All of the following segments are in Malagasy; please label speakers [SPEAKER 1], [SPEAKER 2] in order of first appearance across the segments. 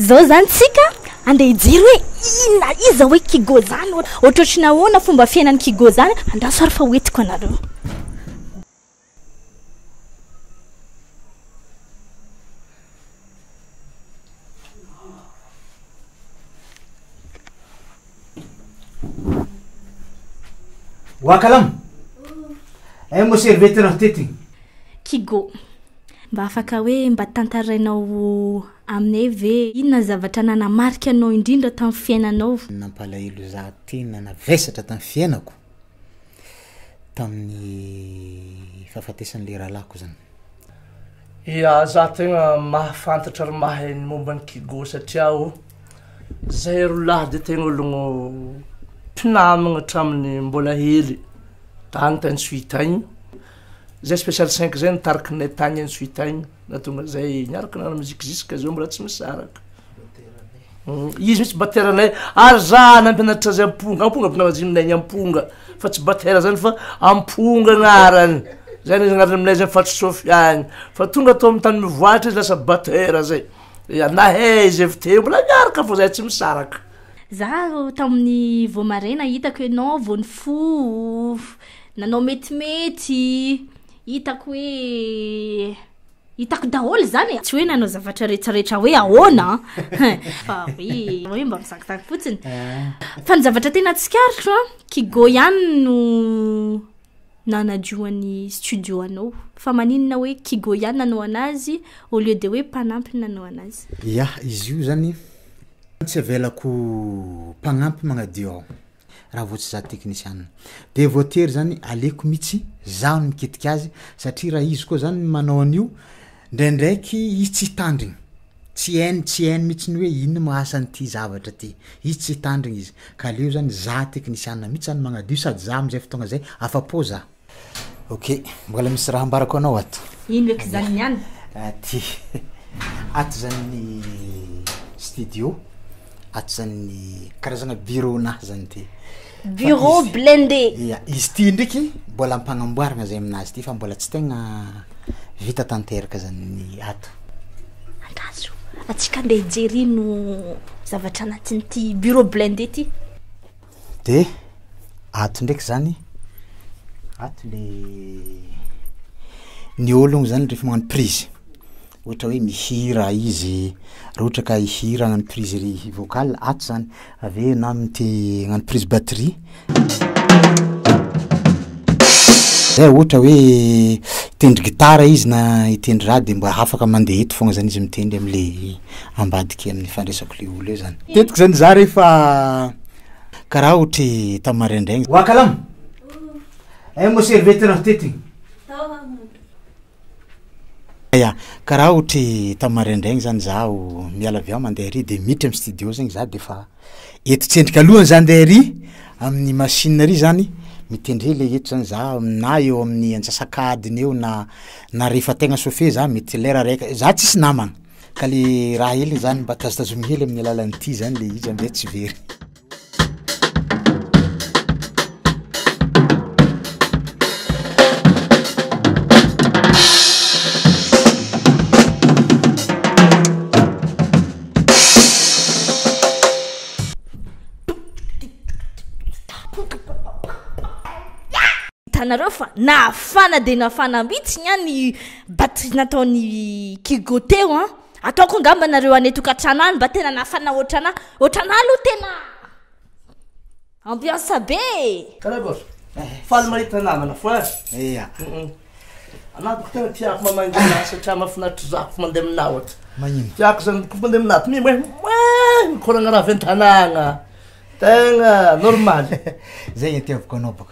[SPEAKER 1] Zao zany tsika andeha hijery hoe inona iza hoe kigo zany ohatrotry nahoana fomba fiainan'ny kigo zany andraso ary fa hoentiko anareo Wakalam! Aia moa serviette raha tetigny? Kigo, mba afaka hoe mba tantarainao aminay ve inona ny zavatra nanamarika anao indrindra tamin'ny fiainanao? Nampalahelo za tena navesatra tamin'ny fiainako. tamin'ny fahafatesan'ilay rahalahiko zany. Ia, za tegna mahafantatra ary mahay ny momba an'i Kigo satria o, zahay roa lahy de tegna ologno mpinamagna hatramin'ny mbola hely tagny tany Suite agny, zay special cinq zay nitarikinay tagny Suite agny. Na tonga izay niaraka nanao musique jusque zao mbola tsy misaraka. Izy mitsy batera nay ary za nampianatra azy amponga amponga avy navajinay ny amponga fa tsy batera zany fa amponga anarany zany izy anarany aminay zany fatry sofiany fa tonga atao ami'ny tany mivoatra izy lasa batera zay ya nahay izy avy teo mbola miaraka fa zay tsy misaraka Za ro tamin'ny vao maraina hitako ianao vao nifoha, nanao metimety. Hitako hoe hitako daholo izany e! Tsy hoe nanao zavatra rehetrarehetra hoe ahoana an! Fa hoe hoe mba misakitany fotsiny. Ah. Fa ny zavatra tena tsikaritro an, Kigo ihany no nanajoan'ny studio anao. Fa maninona hoe Kigo ihany nanao anazy au lieu de hoe mpanampy no nanao anazy? Yah, izy io zany tsy avelako mpanampy magnadio aho. raha vao tsy za teknisianina de voatery zany aleko mitsy zaho ny mikitika azy satria raha izy koa zany manao an'io ndraindraiky izy tsy hitandrigny tsy hainy tsy hainy mitsy ny hoe ino ma asa an'ity zavatra ty izy tsy hitandrigny izy ka aleo zany za teknisianina mitsy zany magnadio sady za am'zay fotoagna zay afa-po za. Ok, mbola misy raha ambarako anao ato. Ino eky zany ny any? Aty. Ato zany ny studio. Ato zany ny karazana bureau nahy zany ty. Bureau blindé. Ia, izy ty ndreky mbola ampagnamboarana zay aminazy ty fa mbola tsy tegna vita tanteraka zany ny ato. Angazo, atsika ndeha hijery ino zavatra anatin'ity bureau blindé ty. De ato ndraiky zany, ato le ny ologny zany rehefa magnano prise ohatra hoe mihira izy, raha ohatra ka hihira hagnano prise ry vocal ato zany, avy eo na mity hagnano prise batterie zay ohatra hoe hitendry gitara izy na hitendry raha de mba afaka mandeha eto foagna zany izy mitendry am'le. ambadika amin'ny fandraisako le olo eo zany tetik zany za rehefa karaha otry tamy maraindraigny wa kalam eh mo serviette raha tetigny ya karaha otry tamy maraindraigny zany zaho miala avy ao mande ary de miditra amy studio zegny za de fa eto tsendriky alohany zany nde ary amin'ny machine ary zany mitendre le eto zany za na eo amin'ny antsasak'adiny eo na na rehefa tegna chauffe za mety lera raiky za tsisy namagna ka le raha eliny zany mba tazotazominy hely amin'ny alalan'ity zany le izy amizay tsy very hitanareo fa nafana dia nafana mihitsy ny any Batterie nataon'i Kigo teo an! Ataoko angamba nareo any tokantrano any mba tena nafana otrana, otrana aloha tena ambiance be e! Tara boss, faly mahita namana foana. Ia. Anah boko tena tiako mamangy anah satria mafinaritra zafy mandeha aminah ohatra. Magnino? Tiako zany boko mandeha aminah to mimoe moe mikoragna raha avy an-tanàgna. Tegna normaly. Zay ny itiavako anao boko.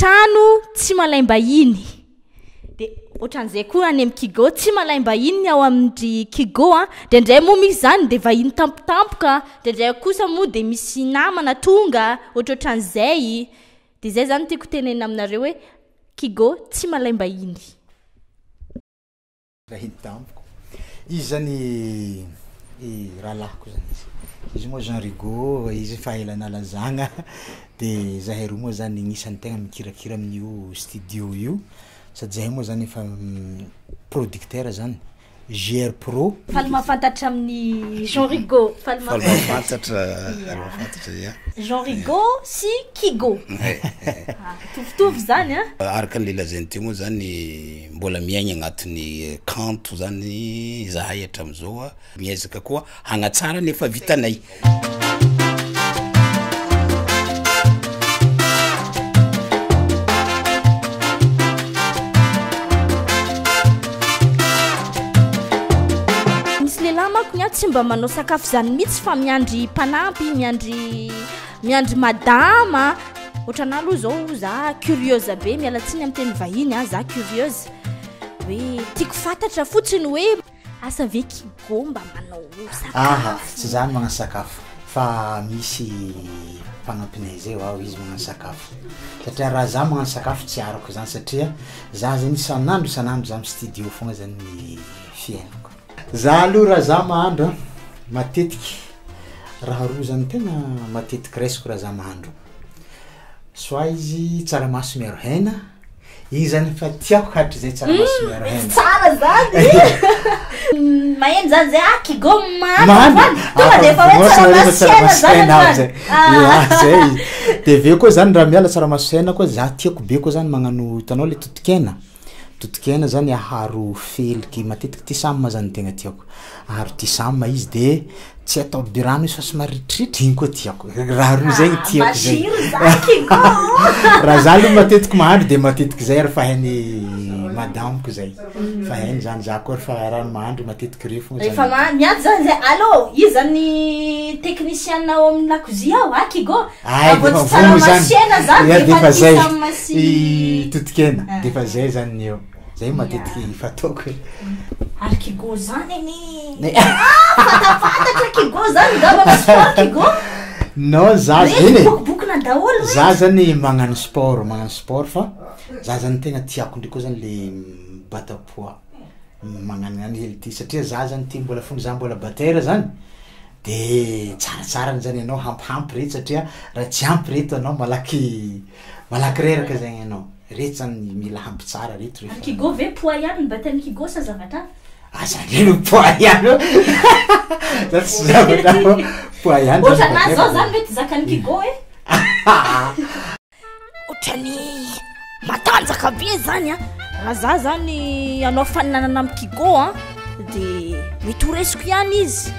[SPEAKER 1] Trano tsy malaim-bahiny. Dia ohatran'izay koa any amin'ny Kigo, tsy malaim-bahiny ny ao amin'ny Kigo a. Dia indray moa misy izany dia vahiny tampotampoka, dia indray kosa moa dia misy namana tonga, ohatrohatran'izay. Dia izay izany tiako tenenina aminareo hoe Kigo tsy malaim-bahiny. Vahiny tamiko izy zany i rahalahiko zany izy izy moa Jean Rigaud izy efa ela nalazagna de zahay roa moa zany agnisan'ny tegna mikirakira amin'io studio io sady zahay moa zany efa producteur zany JR Pro. Faly mahafantatra amin'ny Jean Rigaud, faly Faly mahafantatra. mahafantatra, mahafantatra ia. Jean Rigaud sy Kigo. Mitovitovy zany an. Araka ny lazainy teo moa zany Mbola miaigna agnatin'ny kanto zany zahay hatramin'izao a, miezaka koa hagnatsara ny efa vitanay. Misy lehilahy manko ny ahy tsy mba manao sakafo izany mihitsy fa miandry mpanampy, miandry miandry madama. Ohatranà aloha izao za curieuse be, miala tsiny amin'ny teny vahiny a, za curieuse hoe tiako fantatra fotsiny hoe asa ve kigo mba manao sakafo? Aha, tsy za no magnano sakafo fa misy mpanampinay zay vao izy magnano sakafo satria raha za magnano sakafo tsy arako zany satria za zany isan'andro isan'andro za mi-studio foagna zany ny fiainako. Za aloha raha za mahandro a, matetiky raha roa zany no tegna matetiky raisiko raha za mahandro, soit izy tsaramaso miaro hena, igny zany efa tiako hatrizay tsaramaso miaro hena. Hum tsara zany maheno zany zay ah kigo mahandro zany tonga de efa hoe tsaramaso sy hena zany anao zany ah zay izy de avy eo koa zany raha miala tsaramaso sy hena koa za tiako be koa zany magnano hitanao le totokena. Totokena zany aharo feliky matetiky ty sam zany tegna tiako aharo ty sam izy de tsy atao be rano izy fa somary ritritry igny koa tiako raha roa zay tiako zay raha za aloha matetiky mahandro de matetiky zay ary fa hainy madamoko zay mm. fa hainy zany za koa refa raha mahandro matetiky reo fogna efa ma- miady zany zay allo izy zany technicienne ao amin'ny lakozia ao akigo Ay de efa vono zany ya de efa zay totokena de efa zay zany ny eo zay matetiky fataoko e ary kigo zany anie fantafantatro kigo zany za manao sport kigo no za eny bokobokona daholo mihitsy za zany magnano sport magnano sport fa za zany tegna tiako ndray koa zany le mibata poids magnano any hely ty satria za zany ty mbola fony za mbola batteur zany De tsaratsara ny zany ianao hampihampy reto satria raha tsy ampy reto anao malaky malaky reraka zegny ianao. Reto zany mila hampy tsara reto refa. An'i Kigo ve poa ihany ny batan'i Kigo sa zavatra hafa? Aza aleo ny poa ihany ô! Za tsy zavatra hafa, poa ihany zany ny batan'i Kigo. Ohatran'ahy zao zany ve tsy zakan'i Kigo e! Otrany matanjaka be zany a raha za zany anao faninanana am kigo a de mety ho resiko ihany izy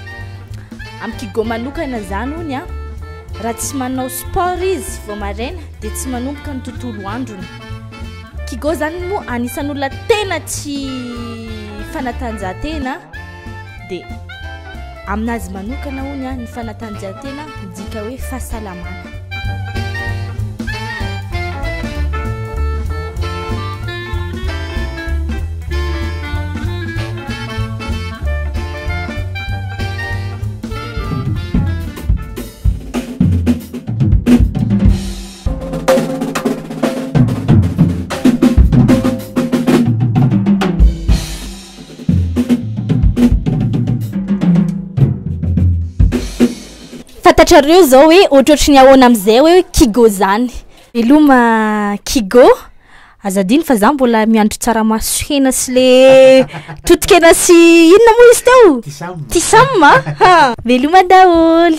[SPEAKER 1] am kigo manokana zany ony a raha tsy manao sport izy vao maraina de tsy manomboka ny tontolo androny kigo zany moa anisan'olona tena tsy fanatanjahantena D, Aminazy manokana hono an, ny fanatanjahantena midika hoe fahasalamana. Fantatrareo zao hoe ohatrohatry ny ahoana amizay hoe kigo zany. Veloma kigo. Aza adino fa za mbola miandry tsaramaso sy hena sy le totokena sy inona moa izy teo tisam a veloma daholy